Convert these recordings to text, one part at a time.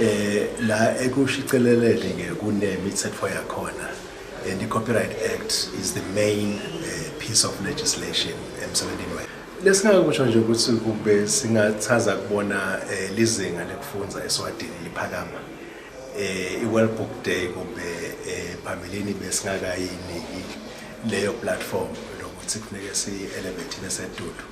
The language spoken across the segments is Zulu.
eh la ekushicelelele ke kunemithetho yakhona and the copyright act is the main eh, piece of legislation emsebenzini wethu lesingakusho nje ukuthi kube singathaza kubona eh, lizinga lekufunza eswadini liphakama eh iWorld Book Day kumbe eh, phambilini besingakayiniki leyo platform lokuthi kufuneke si elevate besedudu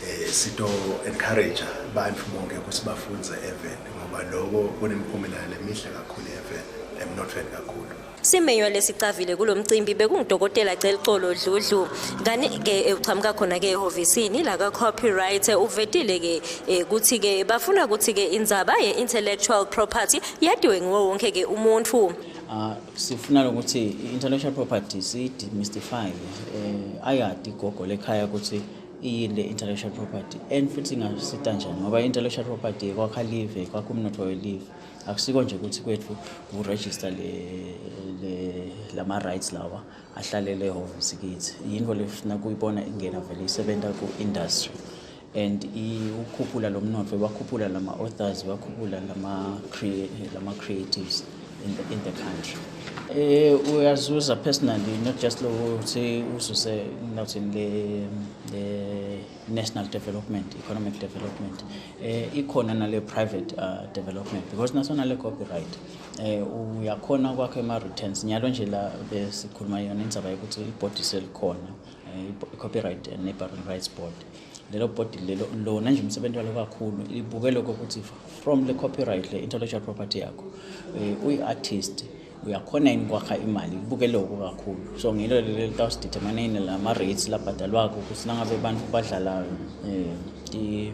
eh, sito encourage abantu bonke ukuthi bafunze even ngoba lokho kunemiphumela lemihle kakhulu even emnothweni kakhulu simenywa lesicavile kulo mcimbi bekungudokotela Celcolo Dludlu kani ke eh, uqhamuka khona ke ehofisini la ka copyright eh, uvetile ke eh, ukuthi ke bafuna ukuthi ke indzaba ye intellectual property yadiwe ngiwo wonke ke umuntu ah, sifuna ukuthi i-intellectual property siyi-demystify um ayadi igogo lekhaya ukuthi iyini le intellectual property and futhi ingasita njani ngoba i-intellectual property kwakha live kwakha umnotho welive akusiko nje ukuthi kwethu kuregister le, le lama-rights lawa ahlalele ehhovisi kithi yinto lefuna kuyibona ingena vele isebenza ku-industry and ukhuphula lo mnotho wakhuphula lama-authors wakhuphula lama-creatives in the, in the country Eh uyazuza personally not just lo ukuthi uzuse nothing le le national development economic development eh ikhona nale private uh, development because nasona le copyright eh uyakhona kwakhe ama returns nyalo nje la besikhuluma yona indaba yokuthi ibhodise likhona eh, i copyright and neighboring rights board lelo body lelo lona nje umsebenzi walo kakhulu libuke lokho ukuthi from le copyright le intellectual property yakho eh, uyi-artist uyakhona yini kwakha imali libuke lokho kakhulu so ngilo lelo litawusideterminane lama-rates labhadalwako ukuthi nangabe abantu badlala um